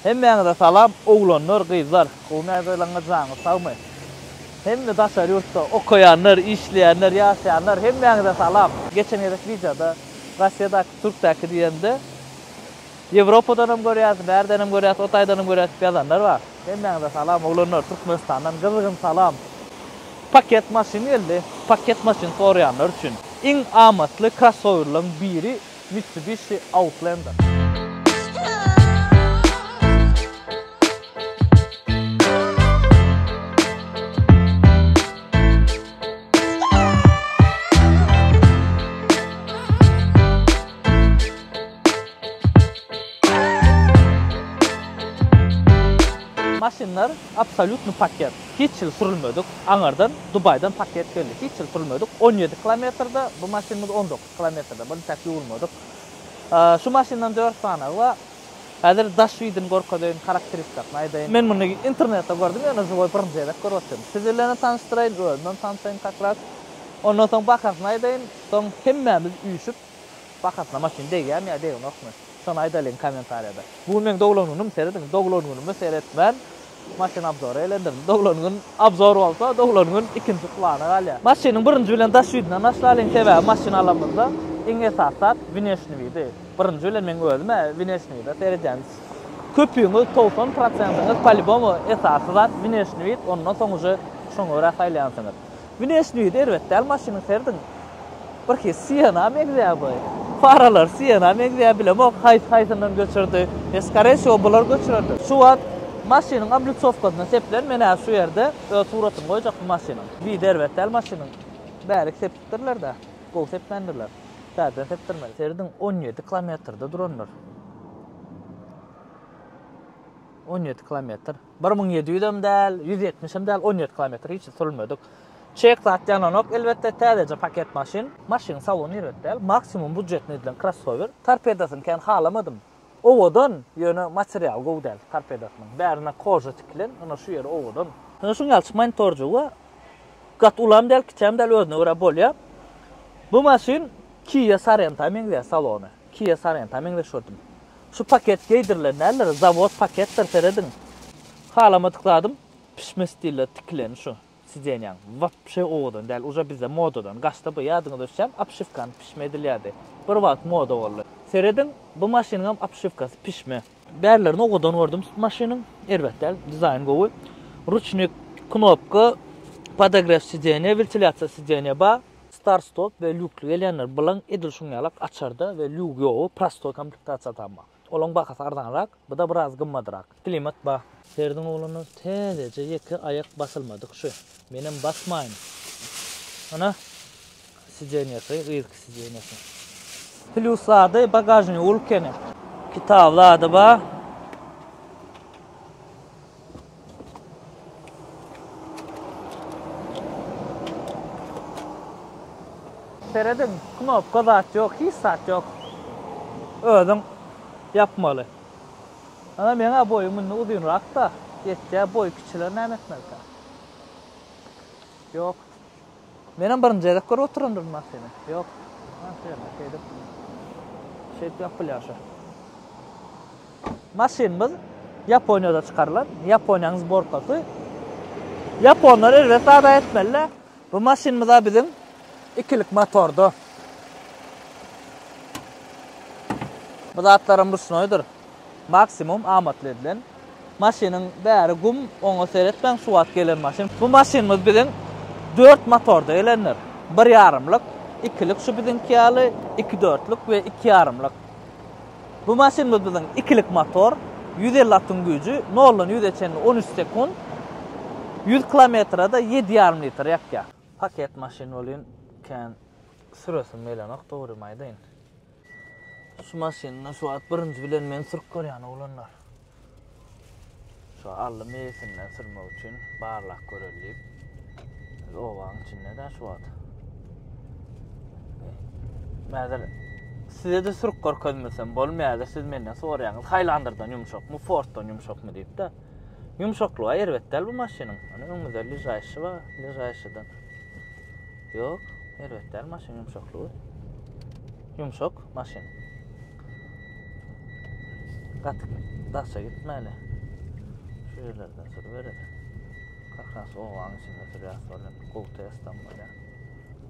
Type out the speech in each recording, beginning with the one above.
Hemmäňize salam oglanlar gyzlar gowymy agzalaryňyz janyňyz sagmy hemme daşary ýurtda okaýanlar işleýänler ýaşaýanlar hemmäňize salam. Geçen gezek wideoda Rossiýadaky Türkdäki diýende Ýewropadanam görýäs bärdenem görýäs o taýdanam görýäs diýip ýazanlar bar hemmäňize salam oglanlar Türkmenistandan gyzygym salam Paket maşyn geldi paket maşyn soraýanlar üçin iň amatly krossowerlaryň biri Mitsubishi Outlander. Maşynlar absolýutny paket. Hiç ýyl sürülmedik. Aňardan Dubaýdan paket geldi. Hiç ýyl sürülmedik. On ýedi kilometrde bu maşynymyz on dokuz. Kilometrde bir intäk ýuwulmadyk. Şu maşyndan dört sanagy bar. Häzir daş ýüdini görkezeýin, harakteristasyny aýdaýyn. Men muny internetde gördüm, ýöne žiwoý birinji gezek görüp otyryn. Siz bilenem tanyşdyraýyn, özümem tanşaýyn kakras. Ondan soň bahasyny aýdaýyn, soň hemmämiz üýşüp bahasyna maşyn degýärmi ýa degenokmy, şony aýdalyň kommentariýada. Bu gün meň doglan günüm, serediň, doglan günüme seretmän. Maşyn obzory elendirin. Doglan gün obzor bolsa, doglan gün ikinji plana galýar. Maşynyň birinji bilen daş ýüzünden başlalyň, sebäbi maşyn alamyzda iň esasy zat wneşniý widi. Birinji bilen meň özüm-ä wneşniý wide seredýän. Köpüňiz, togsan prosentiňiz, palibomu, esasy zat wneşniý wid, ondan soň uje şoňa görä saýlaýansyňyz. Güneş düýi erbet däl maşynyň serdiň birki siena meňzeýär bu faralar siena meňzeýär bilemok haýsy haýsyndan göçürdi e skare wsýo bular göçürendir şu wagt maşynyň oblicowasyna seplen men hä şu ýerde öz suratyny goýjak bu maşynyň düýi erbet däl maşynyň bärik sepipdirlerdä gowy sepmändirler täzeden sepdirmeli serdiň on ýedi kilometrde durandyr on ýedi kilometr. Bir müň ýedi ýüzem däl, ýüz ýetmişem däl, on ýedi kilometr hiç sürmedik. Çek zat ýananok, elbetde, täzeje paket maşyn. Maşynyň salony erbet däl, maksimum budjetnyý edilen krossower. Torpedosyny kän halamadym. Owadan, ýöne material gowy däl torpedosynyň. Bärine koža tikilen, ynha şu ýeri owadan. Ynha şuň ýaly çykmaýyn torjuga. Gaty ulam däl, kiçem däl, özüne görä bolýa. Bu maşyn Kia Sorento-a meňzeýä salony. Kia Sorento-a meňzeş gördüm. Şu paket geýdirilen däldir zawod paketdir serediň halamadyk zadym pişme stiller tikileni şu sidenýaň wapşe owadan däl uže bizde modadan gaçdy bu ýadyňyza düşýän obşiwkany pişme edilýärdi bir wagt moda boldy serediň bu maşynyňam obşiwkasy pişme. Bärlerini owadan gördüm maşynyň erbet däl dizaýn gowy ruçnik knopka podogrew sidenýa wiltilýasiýa sidenýa bar. Start-stop we lýukly gelýänler bilen edil şuň ýalak açarda we lýugy ýogy prostoý komplektasiýa tapmak. Olaň bahasy arzanrak, bu-da biraz gymmadrak. Klimat bar. Ferdiň ogluna täzeje ýeke aýak basylmadyk şu. Menem basmaýyn. Ana, sidenýasy, yzky sidenýasy. Plýus zady, bagažnigi ulkene. Kitap zady bar. Serediň knopka zat ýok hiç zat ýok özüň ýapmaly. Ana meňä boýum mundan uzynrakda ýetýä boýy kiçiler näme etmelika. Ýok. Menem birinji gezek görüp oturandyryn maşyny. Ýok. Maşyny şeýdip. Şeýdip ýapylýar şu. Maşynymyz Ýaponiýada çykarylan. Ýaponiýanyň zborkasy. Ýaponlar erbet zada etmeli. Bu maşynymyza biziň ikilik motorda. Bu zatlaram ruşnoýdyr. Maksimum amatly edilen maşynyň bäri gum, oňa seretmäň şu wagt gelen maşyn. Bu maşynymyz biziň dört motorda gelendir. Bir ýarymlyk, ikilik şu biziňki ýaly, iki dörtlük we iki ýarymlyk. Bu maşynymyz biziň ikilik motor, ýüz elli atyň güýji, noldan ýüze çenli on üç sekunt, ýüz kilometrede ýedi ýarym litr ýakýar. Paket maşyn welin kän süresim gelenok dogrymy aýdaýyn. Şu maşynda şu wagt birinji bilen men sürüp görýän oglanlar. Şu aldy mesinden sürmek üçin barlak göreli diýip. Biz obaň içinde de şu wagt. Mäzir size de sürüp görkezmesem bolmaýar, siz menden soraýaňyz, haýlandyrdan ýumşakmy, fortdan ýumşakmy diýip de. Ýumşaklygy erbet däl bu maşynyň. Ony öňüde ležaýşy bar, ležaýşydan. Ýok, erbet däl maşyn ýumşaklygy. Ýumşak maşyn. Gaty daşa gitmäli. Şu ýerlerden sürüp bereli. Kakras owaň içinde sürýär, sonra gowy testam bolýar.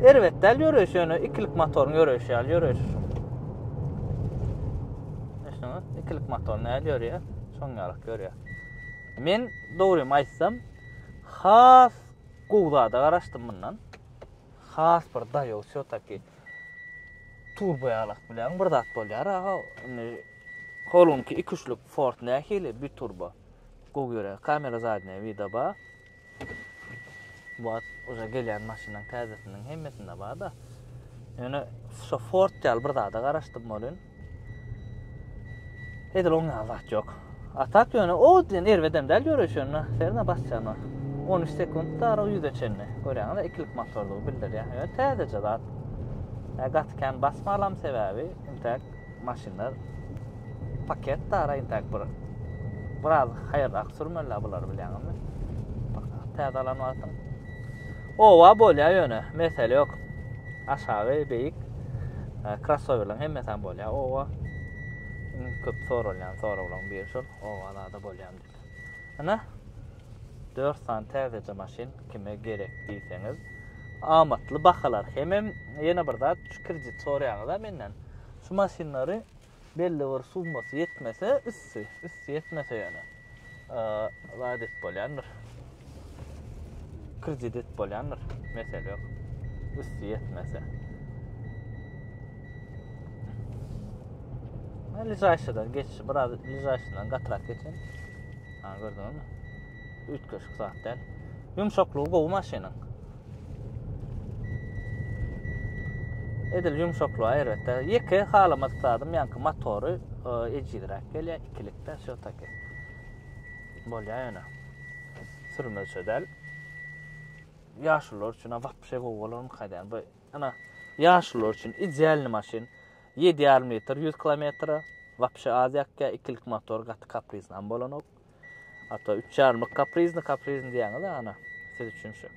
Erbet däl ýöreýiş, ýöne ikilik motoryň ýöreýişi ýaly ýöreýiş. Eşiňiz, ikilik motor näl ýörýär, şoň ýarak ýörýär. Men dogrymy aýtsam, has gowy zada garaşdym mundan. Has bir daýaw şo taki turbo ýalak bilen bir zat bolýar aga. Indi Holunki 2-3-lük Ford nähili bir turbo. Gowy ýöre kamera zadnýa wida ba. Wat uza gelýän maşynyň täzesiniň hemmesinde ba da. Ýöne şu Ford ýaly bir zada garaşdym bolun. Edil oň ýaly zat ýok. Atak ýöne o diýen erbedem däl ýöreşende. Serine basýana. 13 sekund da ara ýüze çenli. Görýäňiz, ikilik motorlygy bildirýär. Ýöne täzeje zat. Gatykän basmalam sebäbi intäk maşynlar paket dara intak bir biraz haýyrrak sürmeli bular bilýäňizmi? Täze alan wagtym. Owa bolýar ýöne, mesele ýok. Aşagy beýik krossowerlaryň e, hemmesi hem bolýar. Owa köp soralýan soraglaryň biri şol, owa zada bolýar diýip. Ine. 4 sany täzeje maşyn kime gerek diýseňiz, amatly bahalar. Hemem ýene bir zat, şu kredit soraýaňyz-a menden. Şu maşynlary belli bir summasy ýetmese, üsti, üsti ýetmese ýöne, zat edip bolýandyr. Kredit bolýandyr. Mesele ýok. Üsti ýetmese. Ha, lizaýşadan geçişi, biraz lizaýşadan gatrak geçen. Ha, gördüňizmi? Üýtgeşik zat däl. Ýumşaklygy gowy maşynyň. Edil ýumşaklygy aýratda. Ýeke halamadyk zadym ýaňky motory e, ejizräk gelýär, ikilikde şo taky. Bolýar ýöne. Sürmezçe däl. Ýaşulylar üçin wapşe gowy bolarmyka diýýän. Bu ana ýaşulylar üçin idealny maşyn. 7,5 litr 100 kilometre. Wapşe az ýakýar. Ikilik motor gaty kaprizny hem bolanok. Hatta 3,5 kaprizny kaprizny diýýäňiz ana. Siz üçin şu.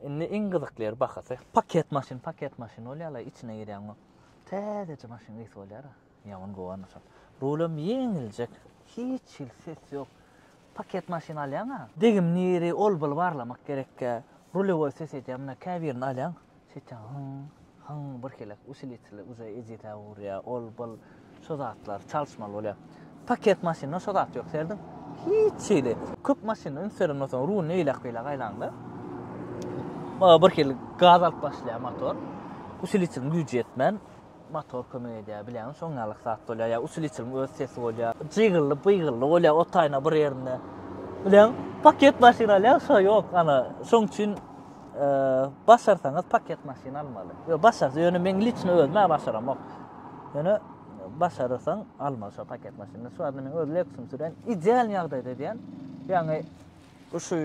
Indi iň gyzykly ýer bahasy. Paket maşyn, paket maşyn bolýar, içine girýäňmi? Täzeje maşyn gysy bolýar. Ýaman guwanjak. Rulem ýeňiljek. Hiç hili ses ýok. Paket maşyn alýaňa. Degim niri ol bil barlamak gerekkä. Rulewoý ses edýä muna kä birini alýaň. Seýtýäň hyň hyň bir helek usiliteli uze ejize urýa ol bil şo zatlar çalyşmaly bolýa. Paket maşynda şo zat ýok serediň. Hiç hili. Köp maşynda üns beren bolsaň rulni eýläk beýläk aýlaňda. Bir hili gaz alyp başlaýa motor. Usiliteliň güýji ýetmän. Motor kömek edýär, bileňiz, şoň ýalyk zat bolýar. Ýa usuliçiliň öz sesi bolýar. Jygylly, byygylly bolýar otaýyna bir ýerinde. Bileň, paket maşyn alýar, şo ýok, ana, şoň üçin başarsaňyz paket maşyn almaly. Ýo başar, ýöne meň liçni özüm-ä başaramok. Ýöne başarsaň almaly şo paket maşyny. Şu wagtda men öz Lexus-ym sürýän, ideal ýagdaýda edýän. Ýagny Bu şu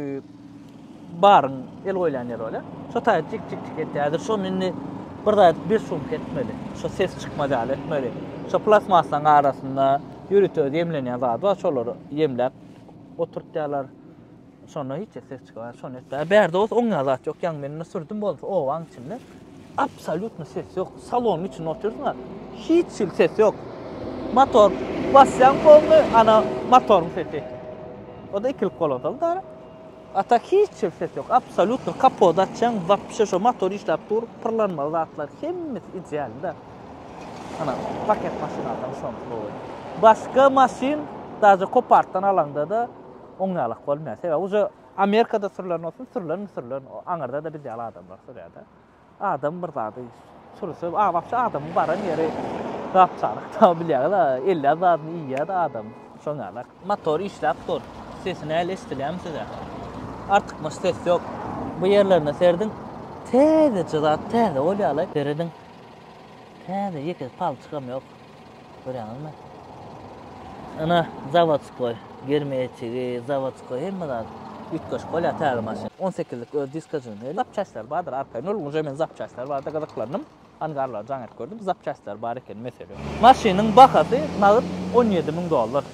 baryň el goýlan ýeri bolýar. Şo taýda tik tik tik etdi. Häzir şony indi bir zat bir sumka etmeli. Şo ses çykmaz ýaly etmeli. Şo plastmasanyň arasynda ýörite öz ýemlenýän zady bar, şolary ýemläp oturtýarlar. Şonda hiç ses çykmaz. Şony etdi. Bärde bolsa oňýan zat ýok. Ýaňy men indi sürdüm bolsa owaň içinde. Absolýutno ses ýok. Salonyň içinde oturýarsyň-a, hiç hili ses ýok. Motor basýaň boldy, ana motoryň sesi. O-da ikilip goladyl da. A tak hiç hili ses ýok. Absolýutno kapot açýaň, wapşe şo motor işläp dur, pyrlanmaly zatlar hemmesi idealda. Ana paket maşynada şonda gowy. Başga maşyn daže kopartdan alaňda-da oňňalak bolmaýar. Sebäbi uje Amerikada sürülen bolsun, sürülenmi sürülen, aňyrda-da biz ýaly adamlar sürýär-de. Adam bir zady sürse, a wapşe adamyň baran ýeri gap-çaryk da, bilýäňiz-ä, elýän zadyny iýýär-de adam, şoň ýaly. Motor işläp dur. Sesi näl eşidilýärmi size? Artykmaç ses ýok. Bu ýerlerine serediň, täzeje zat, täze bolýar-la, serediň. Täze, ýeke palçygam ýok. Görýäňizmi? Ana zawodskoý germetigi, zawodskoý hemme zat üýtgeşik bolýar täze maşyn. 18-lik öz diskajyny, zapçastlary bardyr arkaýyn. Ol uje men zapçastlary barada gyzyklandym. Angarlary jaň edip gördüm. Zapçastlary bar ekeni, mesele ýok. Maşynyň bahasy nagyt on ýedi müň dollar.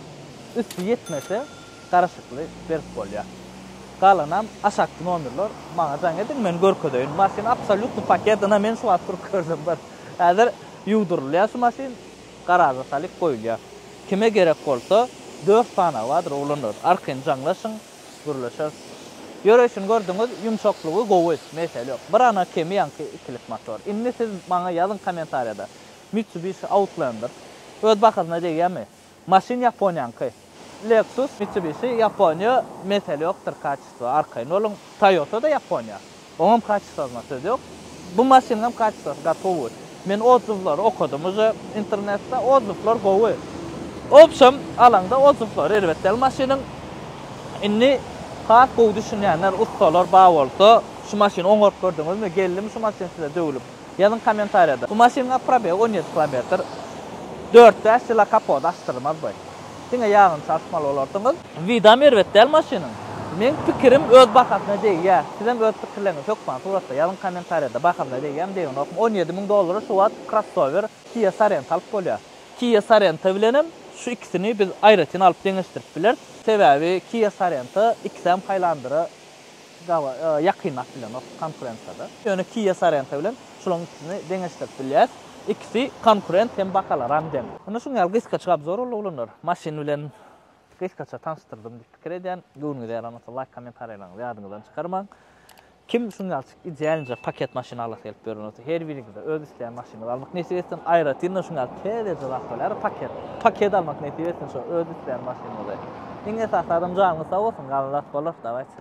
Üsti ýetmese garaşykly berip bolýar. Galanam aşakky nomerler maňa jaň ediň men görkezeýin. Maşyn absolýutny paket, ynha men şu wagt sürüp gördüm bir. Häzir Ýuwdurylýar şu maşyn, garaža salyp goýulýar. Kime gerek bolsa, dört sanawy bardyr oglanlar, arkaýyn jaňlaşyň, gürleşeris. Ýöreýşini gördüňiz, ýumşaklygy gowy, mesele ýok. Bir gana kemi ýaňky ikilik motor. Indi siz maňa ýazyň kommentariýada, Mitsubishi Outlander öz bahasyna degýärmi? Maşyn Ýaponiýaňky. Lexus, Mitsubishi, Ýaponiýa, mesele ýokdur kaçysto, arkaýyn boluň. Toýota-da Ýaponiýa. Oňam kaçystosyna söz ýok. Bu maşynyň hem kaçystosy gatowy. Men odzywlary okadym uje internetde, odzywlar gowy. Obşem alaňda odzywlary erbet däl maşynyň. Indi has gowy düşünýänler, ussalar bar bolsa, şu maşyny oňaryp gördüňizmi, geldimi şu maşyn size döwlüp? Ýazyň kommentariýada. Bu maşynyň probegy on ýedi kilometr. Dört bäş ýyla kapody açdyrmaz bu. Diňe ýagyny çalyşmaly bolarsyňyz. Wydam erbet däl maşynyň. Meň pikirim öz bahasyna degýä. Sizem öz pikirleriňizi hökman suratda ýazyň kommentariýada bahasyna degýämi degenokmy on ýedi müň dollara şu wagt krossower kia sorento alyp bolýa. Kia sorento bilenem şu ikisini biz aýratyn alyp deňeşdirip bileris. Sebäbi kia sorento ikisem hylander'a. Dawa, ýakyn at bilenok konkurensiýada. Ýöne Kia Sorento bilen şulaň ikisini deňeşdirip bilýäs. Ikisi konkurent hem bahalaram deň. Indi şuň ýaly gysgaça obzor boldy oglanlar. Maşyn bilen gysgaça tanyşdyrdym diýip pikir edýän. Göwnüňize ýaran bolsa laýk kommentariýalaryňyzy ýadyňyzdan çykarmaň. Kim şuň ýaly idealinje paket maşyn alasy gelip ýören bolsa her biriňize öz isleýän maşynyňyzy almak nesip etsin. Aýratynam şuň ýaly täzeje zat bolýara paket. Paket almak nesip etsin şo öz isleýän maşynyňyzy. Iň esasy adam janyňyz sag bolsun galan zat bolar. Dawaýçy.